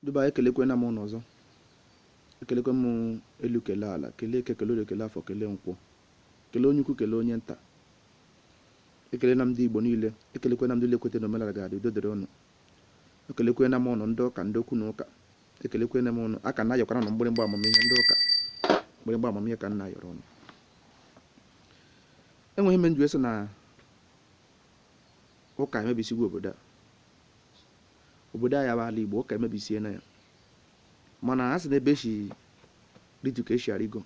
Ndị be anyị ekelekwena m ụnụ ọzọ ekelekwe m elu kele ala kele eke kele orie kele afọ kele nkwọ kele onye ukwu kele onye nta ekele na ndị Igbo niile ekelekwe na ndị niile kwete na omenala ga-adị udo dịrị ụnụ ekelekwe na m ụnụ ndị ụka ndị okwu na ụka ekelekwe na m ụnụ a ka na-ayọkwara ụnụ mgbịrịgba amamihe ndị ụka mgbịrịgba amamihe ka m na-ayọrọ ụnụ enwe ihe m ji sị na ụka emebisigo obodo a obodo anyị bụ ala igbo ụka emebisiena ya mana a sị na ebe e si rịtu ka e si arịgo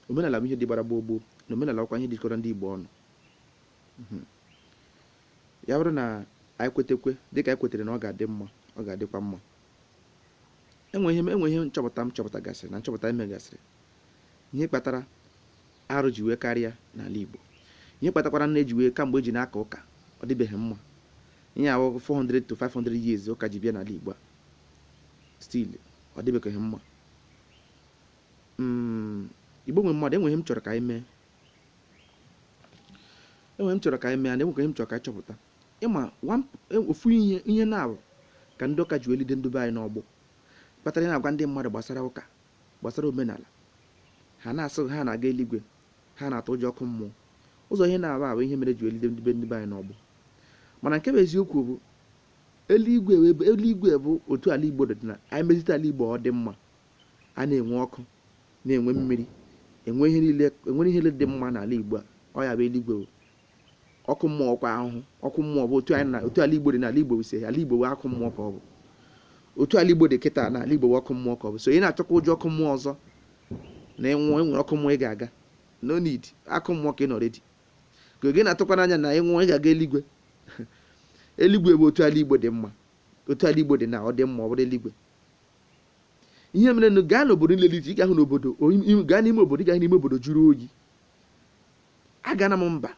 omenala bụ ihe dị gbara gboo gboo na omenala ọkwa ihe jikọrọ ndị igbo ọnụ mhm. ya bụrụ na anyị kwetekwe dịka anyị kwetere na ọ ga-adị mma ọ ga-adịkwa mma enwe ihe nchọpụta m chọpụtagasịrị na nchọpụta e megasịrị ihe kpatara arụ ji wee karịa n'ala Igbo ihe kpatakwara na e ji wee kamgbe e ji na-aka ụka ọ dịbeghị mma ihe ahụ 400 to 500 years ụka ji bịa n'ala Igbo a still ọ dịbeghị mma mm, Igbo nwe mmadụ enwe ihe m chọrọ ka anyị mee enwe ihe m chọrọ ka anyị mee na enwe ihe m chọrọ ka anyị chọpụta ịma e, ofu ihe ihe naabọ ka ndị ụka ji wee lide ndị be anyị n'agbụ kpatara na a gwa ndị mmadụ gbasara ụka gbasara omenala ha na-asị ha na-aga eluigwe ha na-atụ ụjọ ọkụ mmụọ ụzọ ihe naabọ a bụ ihe mere ji wee lide ndị be ndị be anyị n'agbụ mana nke bụ eziokwu bụ eluigwe wee bụ- eluigwe bụ otu ala igbo dị na anyị mezite ala igbo ọ dị mma a na-enwe ọkụ na-enwe mmiri enwe ihe niile enwere ihe niile dị mma n'ala igbo a ọ ya bụ eluigwe bụ ọkụ mmụọ kwa ahụhụ ọkụ mmụọ bụ otu anyị na otu ala igbo dị n'ala igbo ise ala igbo bụ ọkụ mmụọ ka ọ bụ otu ala igbo dị kịta na ala igbo bụ ọkụ mmụọ ka ọ bụ so ị na-atụkwa ụjọ ọkụ mmụọ ọzọ na ị nwụọ enwere ọkụ mmụọ ị ga-aga no need ọkụ mmụọ ka ị nọ already ka ọ gị na-atụkwa anya na ị nwụọ ị ga-aga eluigwe eluigwe bụ otu ala igbo dị mma otu ala igbo dị na ọ dị mma ọ bụrụ eluigwe ihe mere na gaa n'obodo niile dị iche ị ga-ahụ na obodo gaa n'ime obodo ị ga-ahụ na ime obodo jụrụ oyi agana m mba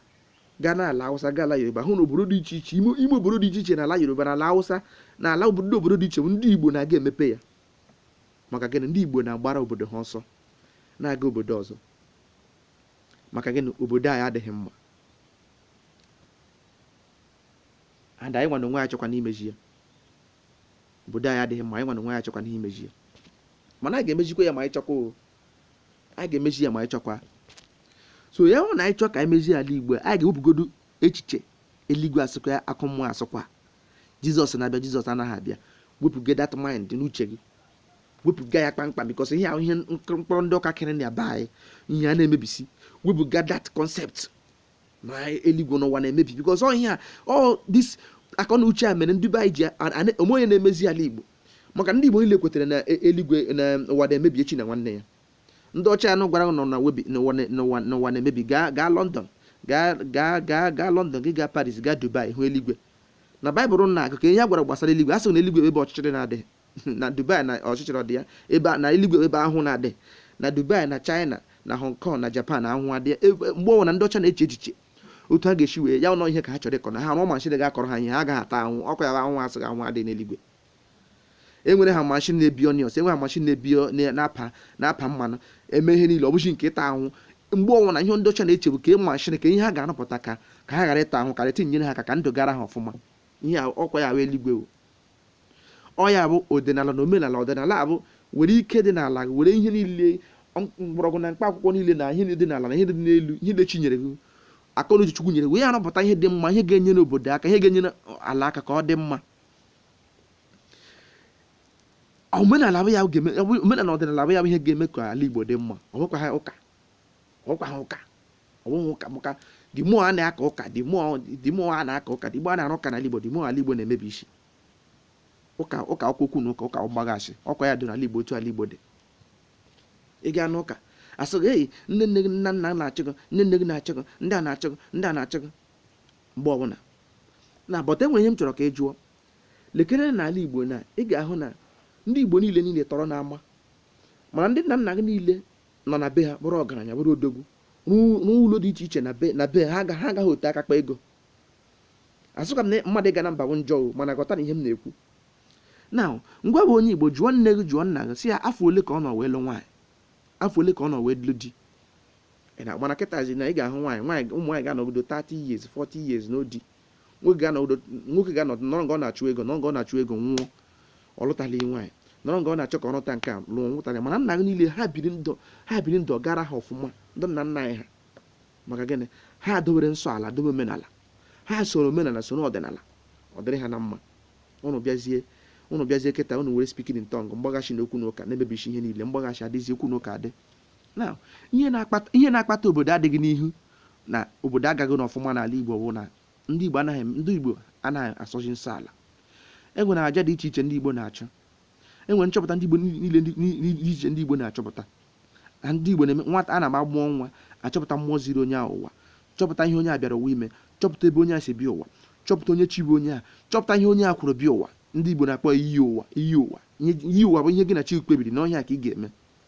gaa n'ala awụsa gaa ala yoruba hụ na obodo dị iche iche ime obodo dị iche iche n'ala yoruba n'ala awụsa na ala ndị obodo dị iche bụ ndị igbo na-aga emepe ya maka gịnị ndị igbo na-agbara obodo ha ọsọ na-aga obodo ọzọ maka gịnị obodo anyị adịghị mma and anyị nwa na onwe anyị achọkwa n'imezi ya obodo anyị adịghị mma anyị nwa na onwe anyị achọkwa n'imezi ya mana anyị ga-emezikwa ya ma anyị chọkwa anyị ga-emezi ya ma anyị chọkwa so ya bụ na anyị chọọ ka anyị mezie ala igbo anyị ga-ewepụgodu echiche eluigwe asụkwa ya ọkụ mmụọ asụkwa jizọs na-abịa jizọs anaghị abịa wepụga that mind n'uche gị wepụga ya kpamkpam because ihe ahụ ihe mkpọrọ ndị ụka kere ndị be anyị ihe a na-emebisi wepụga that concept na eluigwe na ụwa na-emebi because of ihe a all this akọ na uche a mere ndị be anyị ji o nwe onye na-emezi ala igbo maka ndị igbo niile kwetara na e, eluigwe na ụwa na-emebi echi na nwanne ya ndị ọcha ahụ gwara ụnụ n'ụwa na-emebi gaa gaa london gaa gaa gaa gaa london ị gaa paris gaa dubai hụ eluigwe na baịbụl na-agụ ka ihe a gwara gbasara eluigwe a sị na eluigwe ebe ọchịchịrị na-adịghị na dubai na ọchịchịrị dị ya ebe a- na eluigwe ebe ahụhụ na-adịghị na dubai na china na hong kong na japan ahụhụ adịghị ya Ebe- mgbe ọbụla ndị ọcha na-eche echiche otu ha ga-esi wee ya nọ ihe ka ha chọrọ ịkọ na ha rụọ mashin ga-akọrọ ha ihe ha agaghị ata ahụhụ ọkwa ya bụ ahụhụ a sị na ahụhụ adịghị n'eluigwe enwere ha mashin na-ebi onions enwere ha mashin na-ebi o- na- na-apa na-apa mmanụ eme ihe niile ọ bụghị nke ịta ahụhụ mgbe ọbụla ihe ndị ọcha na-eche bụ ka ịma mashin ka ihe ha ga-arụpụta ka ka ha ghara ịta ahụhụ ka ihe a nyere ha aka ka ndụ gara ha ọfụma ihe a- ọkwa ya bụ eluigwe o. ọ ya bụ ọdịnala na omenala ọdịnala bụ were ike dị n'ala gị were ihe niile mgbọrọgwụ na mkpa akwụkwọ niile na ihe dị n'ala na ihe dị n'elu ihe dị chi nyere gị akọ na uche chukwu nyere gị wee arụpụta ihe dị mma ihe ga-enyere obodo aka ihe ga-enyere ala aka ka ọ dị mma omenala bụ ya ga-eme omenala ọdịnala bụ ya bụ ihe ga-eme ka ala igbo dị mma ọ bụkwaha ụka ọ bụkwaha ụka ọ bụghị ụka maka the more a na-aka ụka the more the more a na-aka ụka the more a na-arụ ụka n'ala Igbo the more ala Igbo na-emebisi ụka ụka akwụkwọ okwu na ụka ụka mgbaghasị ọkwa ya dị n'ala Igbo otu ala Igbo dị ị gaa n'ụka a sị gị eyi nne nne gị nna nna na-achụ gị nne nne gị na-achụ gị ndị a na-achụ gị ndị a na-achụ gị mgbe ọbụla na ghọta enwere ihe m chọrọ ka ị jụọ lekere n'ala Igbo na ị ga-ahụ na ndị Igbo niile niile tọrọ n'ama mana ndị nna nna gị niile nọ na be ha bụrụ ọgaranya bụrụ odogwu rụọ rụọ ụlọ dị iche iche na be na be ha aga- ha agaghị ote aka kpa ego asịkwa m na mmadụ ịga na mba bụ njọ o mana ghọta na ihe m na-ekwu na ngịwa bụ onye igbo jụọ nne gị jụọ nna gị sị ya afọ ole ka ọ nọ wee lụ nwaanyị afọ ole ka ọ nọ wee lụ di Ị na- mana kịtazi na ị ga-ahụ nwaanyị nwaanyị ụmụ nwaanyị ga-anọgido 30 years 40 years lụọ di nwoke ga-anọgido nwoke ga-anọ nọrọ nga ọ na-achụ ego nọrọ nga ọ na-achụ ego nwụọ ọ lụtala ihe nwaanyị nọrọ nga ọ na-achọ ka ọ rụta nke a lụọ nwụtara ya mana nna gị niile ha biri ndụ ha biri ndụ ọ gara ha ọfụma ndị nna nna anyị ha maka gịnị ha dobere nsọ ala dobe omenala ha soro omenala soro ọdịnala ọ dịrị ha na mma ụnụ bịazie ụnụ bịazie kịta ụnụ were speaking in tongue mgbaghasị na okwu na ụka na-emebisi ihe niile mgbaghasị adịzi okwu na ụka adị Now, ihe na-akpata ihe na-akpata obodo adịghị n'ihu na obodo agaghị n'ọfụma n'ala Igbo bụ na ndị Igbo anaghị ndị Igbo anaghị asọzi nsọ ala e nwere aja dị iche iche ndị Igbo na-achụ e nwere nchọpụta ndị Igbo niile ndị- ni- ni- dị iche ndị Igbo na-achọpụta na ndị Igbo na-eme nwata a na-agba mụọ nwa achọpụta mmụọ ziri onye ahụ ụwa chọpụta ihe onye a bịara ụwa ime chọpụta ebe onye a si bịa ụwa chọpụta onye chi bụ onye a chọpụta ihe onye a kwuru bịa ụwa ndị Igbo na-akpọ iyi ụwa iyi ụwa Ihe- iyi ụwa bụ ihe gị na chi kpebiri n'ọ ihe a ka ị ga-eme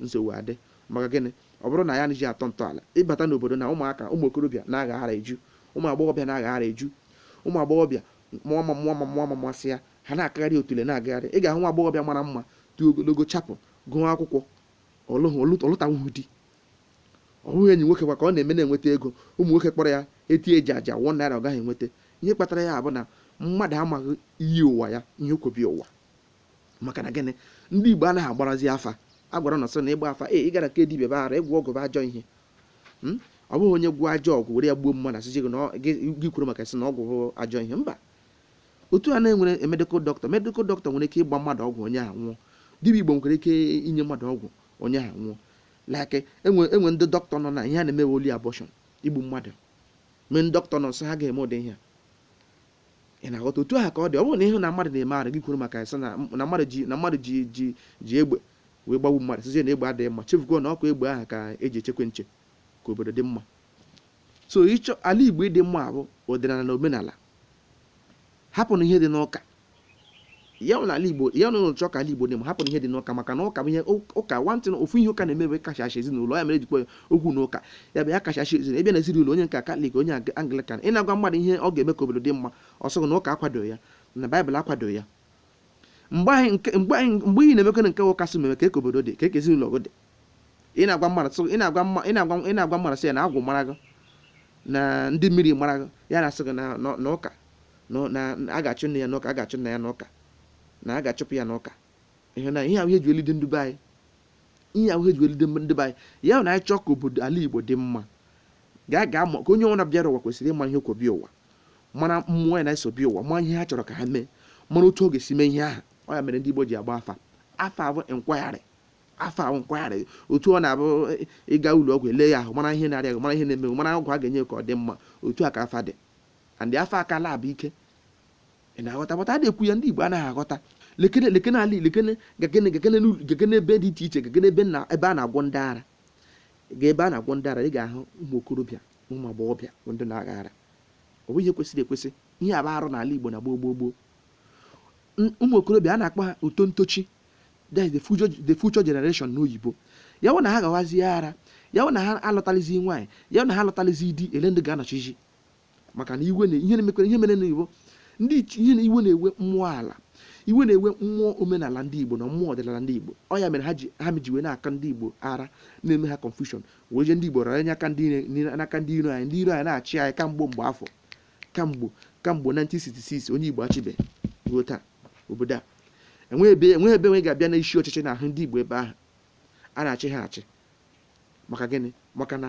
nsogbu adị maka gịnị ọ bụrụ na ya anaghị atọ ntọala ị bata n'obodo na ụmụaka ụmụ okorobịa na-aghaghara eju ụmụ agbọghọbịa na-aghaghara eju ụmụ agbọghọbịa mụọ ma mụọ ma mụọ ma masị ya ha na-akagharị otule na-agagharị ị ga-ahụ nwa agbọghọbịa mara mma dị ogologo chapụ gụọ akwụkwọ ọ lụhụ ọ lụ- ọ lụtanwuhu di ọ bụghị enyi nwoke kwa ka ọ na-eme na-enweta ego ụmụ nwoke kpọrọ ya eti eji aja one naira ọ gaghị enweta ihe kpatara ya bụ na mmadụ amaghị iyi ụwa ya ihe o kwo bịa ụwa maka na gịnị ndị igbo anaghị agbarazi afa a gwara unu sị na ịgba afa ee ị gara ka dibịa baghara ịgwọ ọgwụ bụ ajọ ihe Mm? ọ bụghị onye gwọọ ajọ ọgwụ were ya gbuo mmadụ asịzi gị na ọ- gị gị kworo maka sị na ọgwụ bụ ajọ ihe mba otu a na-enwere medical doctor medical doctor nwere ike ịgba mmadụ ọgwụ onye ahụ nwụọ dibịa igbo nwere ike inye mmadụ ọgwụ onye ahụ nwụọ like e nwe e nwere ndị dọkịta nọ na ihe ha na-eme wụ only abortion igbu mmadụ mee ndị dọkịta nọ nsọ ha ga-eme ụdị ihe a ị na-aghọta otu ahụ ka ọ dị ọ bụrụ na ị hụ na mmadụ na-eme arụ gị kworo maka ya sị na na mmadụ ji na mmadụ ji ji ji egbe wee gbagbu mmadụ sịzie na egbe adịghị mma chefugo na ọ kwa egbe ahụ ka eji echekwa nche ka obodo dị mma so ịchọ ala igbo ịdị mma bụ ọdịnala na omenala hapụnụ ihe dị n'ụka ya na ala igbo ya na unu chọọ ka ala igbo dị mma hapụnụ ihe dị n'ụka maka na ụka bụ ihe ụka one thing na ofu ihe ụka na-eme bụ kachachi ezinụlọ ya mere ejikwa okwu na ụka ya bụ ya kachachi ezinụlọ ebe na ezinụlọ onye nke katọlik onye anglikan ị na-agwa mmadụ ihe ọ ga-eme ka obodo dị mma ọ sị gị na ụka akwado ya na baịbụl akwado ya mgbe anyị nke mgbe anyị mgbe ị na-emekwanụ nke ụka sị mee kee ka obodo dị kee ka ezinụlọ gị dị ị na-agwa mmadụ sị ị na-agwa mma ị na-agwa ị na-agwa mmadụ sị ya na agwụ mara gị na ndị mmiri mara gị ya na-asị gị na na- na ụka na na a ga-achụ nne ya n'ụka a ga-achụ nna ya n'ụka na a ga-achụpụ ya n'ụka ihe na ihe ahụ eji elide ndị be anyị ihe ahụ eji elide ndị be anyị ya bụ na anyị chọọ ka obodo ala igbo dị mma gaa gaa maka onye ọbụla bịara ụwa kwesịrị ịma ihe o kwo bịa ụwa mara mmụọ ya na ha so bịa ụwa ma ihe ha chọrọ ka ha mee mara otu ọ ga-esi mee ihe ahụ ọ ya mere ndị igbo ji agba afa afa abụ nkwagharị afa ahụ nkwagharị otu ọ na-abụ ị- ị gaa ụlọ ọgwụ e lee ya ahụ mara ihe na-arịa gị mara ihe na-eme gị mara ọgwụ a ga-enye gị ka ọ dị mma otu a ka afa dị and afa akala abụ ike ị na-aghọta but a na-ekwu ya ndị igbo anaghị aghọta lekene lekene ala lekene gakene gakene n'ụlọ- gakene ebe dị iche iche gakene ebe na ebe a na-agwọ ndị ara gaa ebe a na-agwọ ndị ara ị ga-ahụ ụmụ okorobịa na ụmụ agbọghọbịa bụ ndị na-agha ara ọ bụ ihe kwesịrị ekwesị ihe a bụ arụ n'ala igbo na gboo gboo gboo N- ụmụ okorobịa a na-akpọ ha uto ntochi that is the future, the future generation n'oyibo ya wụ na ha ghawazie ara ya wụ na ha alụtalizi nwaanyị ya wụ na ha alụtalizi di elee ndị ga-anọchizi maka na iwe na ihe na-emekwa ihe mere na igbo ndị ichi- ihe na iwe na-ewe mmụọ ala iwe na-ewe mmụọ omenala ndị igbo na mmụọ ọdịnala ndị igbo ọ ya mere ha ji ha ji wee na-aka ndị igbo ara na-eme ha confusion wee je ndị igbo rara nye aka ndị ire- n'ire- n'aka ndị iro anyị ndị iro anyị na-achị anyị kamgbe mgbe afọ kamgbe kamgbe 1966 onye igbo achịbe ruo taa obodo a enweghị ebe enweghị ebe nwe ga-abịa n'isi ọchịchị na-ahụ ndị igbo ebe ahụ a na-achị ha achị maka gịnị maka na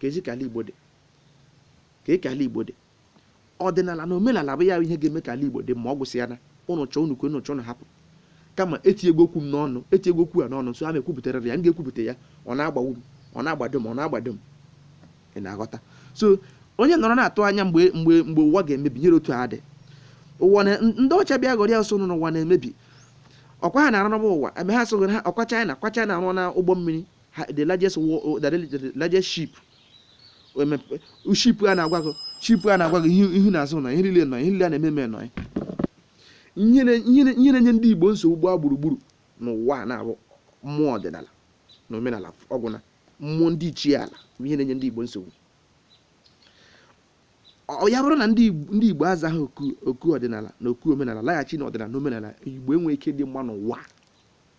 ka ezi ka ala igbo dị ka eke ala igbo dị ọdịnala na omenala bụ ya bụ ihe ga-eme ka ala igbo dị ma ọ gwụsị ya na ụnụ chọọ unu kwe unu chọọ unu hapụ kama etinyego okwu m n'ọnụ etinyego okwu a n'ọnụ nso a na-ekwupụtara ya m ga-ekwupụta ya ọ na-agbawu m ọ na-agbado m ọ na-agbado m ị na-aghọta so onye nọrọ na-atụ anya mgbe mgbe mgbe ụwa ga-emebi nyere otu a dị ụwa na ndị ọcha bịa ghọrọ ya ọsọ nọ n'ụwa na-emebi ọkwa ha na-arụ n'ụwa ụwa eme ha sogoro ha ọkwa China ọkwa China arụọna ụgbọ mmiri ha- the largest wo- o- the the largest ship emepe ship a na-agwa gị ship a na-agwa gị ihu ihu na azụ nọ ihe niile nọ ihe niile a na-eme eme nọ ihe na- ihe na- ihe na-enye ndị igbo nsogbu gbaa gburugburu n'ụwa na ọ bụ mmụọ ọdịnala na omenala ọ gwụna mmụọ ndị ichie ala bụ ihe na-enye ndị igbo nsogbu ọ ya bụrụ na ndị Igbo- ndị igbo azaghị oku oku ọdịnala na oku omenala laghachi na ọdịnala na omenala igbo enweghị ike dị mma n'ụwa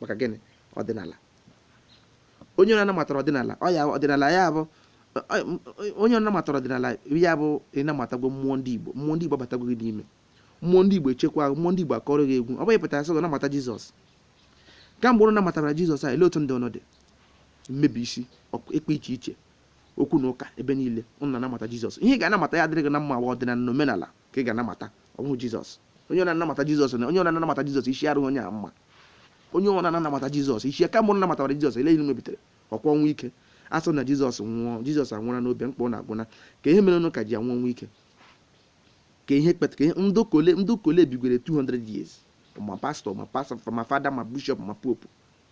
maka gịnị ọdịnala onye ọ namatara ọdịnala ọ ya ọdịnala ya bụ ọ- ọ- onye ọ namatara ọdịnala ya bụ ị namatagwo mmụọ ndị igbo mmụọ ndị igbo abatago gị n'ime mmụọ ndị igbo echekwa gị, mmụọ ndị igbo akọrọ gị egwu ọ bụghị pụtara sị gị namata jizọs kamgbe ụnụ namatara jizọs a lee otu ndụ ụnụ dị mmebi isi ọk- ikpe iche iche okwu na ụka ebe niile ụnụ na-anamata jizọs ihe ị ga-anamata ya adịrị gị na mma wụ ọdịnala na omenala ka ị ga-anamata ọ bụghị jizọs onye ọ na-anamata jizọs na onye ọ na-anamata jizọs isi adịghị onye a mma onye ọ na-anamata jizọs isi kamgbe ụnụ namatara jizọs lee ihe mebitere ọkwa ọnwụ ike a sị na jizọs nwụọ jizọs anwụra n'obe mkpọ na agwụna kee ihe mere ụnụ ka ji anwụ ọnwụ ike ka ihe kpeta ka ihe ndị ụka ole ndị ụka ole bigwere 200 years ma pastọ ma pastọ ma fada ma bishọp ma popu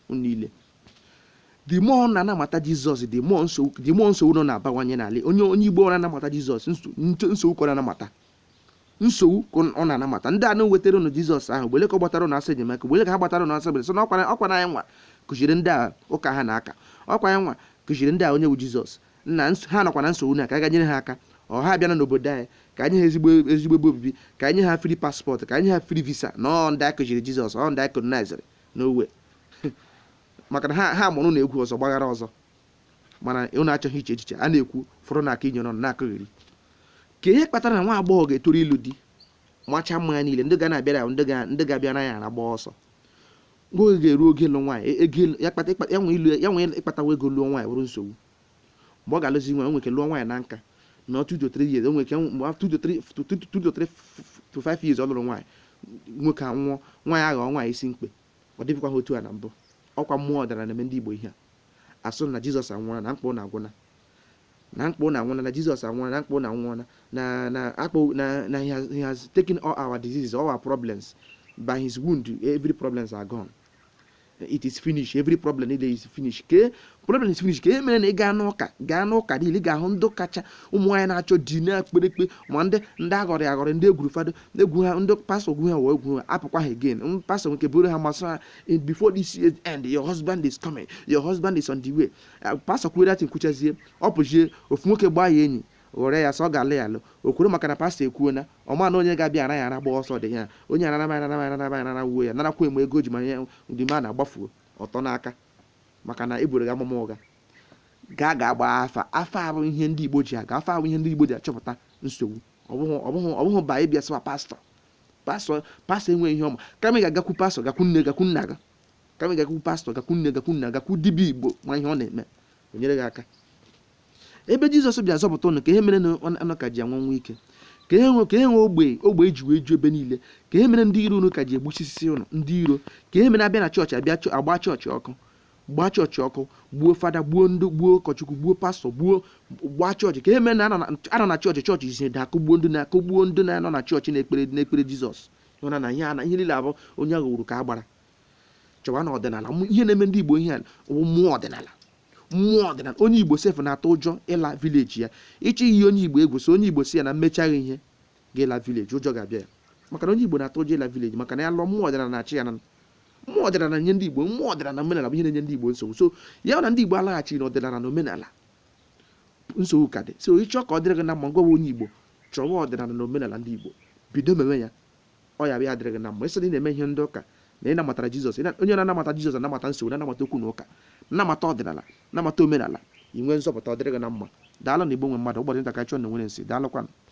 niile the more ọ na-anamata jizọs the more nsogbu the more nsogbu nọ na-abawanye n'ala onye onye igbo ọ na-anamata jizọs nso- nto- nsogbu ka ọ na-anamata nsogbu ka ọ na-anamata ndị ahụ wetara ụnụ jizọs ahụ mgbe ole ka ọ gbatara ụnụ ọsọ enyemaka mgbe ole ka ha gbatara ụnụ ọsọ bere sọ na ọkwa na- ọkwa na anyị nwa kụziri ndị a ụka ha na-aka ọkwa anyị nwa kụziri ndị a onye bụ jizọs na ns- ha nọkwa na nsogbu na ka a ga-enyere ha aka ọ ha abịana n'obodo anyị ka e nye ha ezigbo ezigbo ebe obibi ka e nye ha free passport ka e nye ha free visa na ọ ndị a kụziri jizọs ọ ndị a koloniziri n'owe maka na ha ha mụrụ ụnụ egwu ọzọ gbaghara ọzọ mana unu achọghị iche echiche a na-ekwu fọrọ na aka inyere ọnụ na-akọgheri ke ihe kpatara na nwa agbọghọ ga-etoru ịlụ di macha mma ya niile ndị ga na-abịara ya ndị ga- ndị ga-abịa raa ya ara gbaa ọsọ mgbe oge ga-eru oge ịlụ nwaanyị e- ego ịlụ- ya kpata ịkpa- ya nwee ịlụ ya nwee ịkpatawa ego lụọ nwaanyị bụrụ nsogbu mgbe ọ ga-alụzi nwaanyị o nwere ike lụọ nwaanyị na nka na ọ 2 to 3 years o nwere ike mgbe after 2 to 3 to- to- to- to 3 to 5 years ọ lụrụ nwaanyị nwoke anwụọ nwaanyị aghọọ nwaanyị isi mkpe ọ dịbịkwa ha otu a na mbụ ọkwa mmụọ ọdịnala na-eme ndị Igbo ihe a a sị na jizọs anwụọla na mkpa ụnụ agwụna na mkpa ụnụ anwụọla na jizọs anwụọla na mkpa ụnụ anwụọla na na akpọ na na he has, he has taken all our diseases all our problems by his wound every problems are gone it is finished every problem niile is finished ke problem is finished ke ihe mere na ị gaa n'ụka gaa n'ụka niile ị ga-ahụ ndị kacha ụmụ nwaanyị na-achọ di na-ekpere ekpe ma ndị ndị aghọrị aghọrị ndị e gwuru fada egwu ha ndị pastọ gwu ha wee gwu ha apụkwa ha again pastọ nke buru ha amụma sị ha in before this year end your husband is coming your husband is on the way uh, pastor kwuo datin kwuchazie ọ pụzie ofu nwoke gbaa ya enyi ghọrọ ya sị ọ ga-alụ ya alụ o kwuru maka na pastọ ekwuo na ọ ma na onye ga-abịa ara ya ara gba ọsọ dị ya onye anaraba anaraba anaraba anara wuo ya narakwa enwe ego ji ma ya ndị ma na-agbafuo ọtọ n'aka maka na e buru gị amụma ụgha gaa ga gbaa afa afa abụ ihe ndị igbo ji aga afa abụ ihe ndị igbo ji achọpụta nsogbu ọ bụghị ọ bụghị ọ bụghị ba ịbịa sịwa pastọ pastọ pastọ enweghị ihe ọ ma kama ị ga-agakwu pastọ gakwu nne gakwu nna gị kama ị gakwu pastọ gakwu nne gakwu nna gakwu dibịa igbo ma ihe ọ na-eme o nyere gị aka ebe jizọs bịa zọpụta ụnụ ke ihe mere na ọ- ụnụ ka ji anwụ ọnwụ ike ke ihe nwe ke ihe nwe ogbe- ogbenye ji wee ju ebe niile ke ihe mere ndị iro unu ka ji egbusisi ụnụ ndị iro ke ihe mere a bịa na chọọchị abịa chọ- agba chọọchị ọkụ gbaa chọọchị ọkụ gbuo fada gbuo ndị gbuo ụkọchukwu gbuo pastọ gbuo gbaa chọọchị ke ihe mere na a nọ na chọọchị chọọchị isi da akụgbuo ndị na-akụgbuo ndị na-anọ na chọọchị na-ekpere na-ekpere jizọs ị hụna na ihe na ihe niile a bụ onye a ghọgburu ka a gbara chọwa na ọdịnala ihe na-eme ndị igbo ihe bụ mmụọ ọdịnala mmụọ ọdịnala onye igbo sefụ na-atụ ụjọ ịla vileji ya ị chọọ iyi onye igbo egwu sị onye igbo sị ya na m mechaa gị ihe ị ga-ala vileji ụjọ ga-abịa ya maka na onye igbo na-atụ ụjọ ịla vileji maka na ya lụọ mmụọ ọdịnala na-achị ya na mmụọ ọdịnala nye ndị igbo mmụọ ọdịnala na omenala bụ ihe na-enye ndị igbo nsogbu so ya na ndị igbo alaghachighị na ọdịnala na omenala nsogbu ka dị so ị chọọ ka ọ dịrị gị na mma ngwa onye igbo chọwa ọdịnala na omenala ndị igbo bido mewe ya ọ ya bịa adịrị gị na mma ị sị na ị na-eme ihe ndị ụka na ị namatara jizọs onye na-anamata jizọs anamata nsogbu na-anamata okwu na ụka namata ọdịnala namata omenala i nwee nzọpụta ọ dịrị gị na mma daalụ na igbo nwe mmadụ ụbọchị nta ka a chụọ na owere nchi daalụkwanụ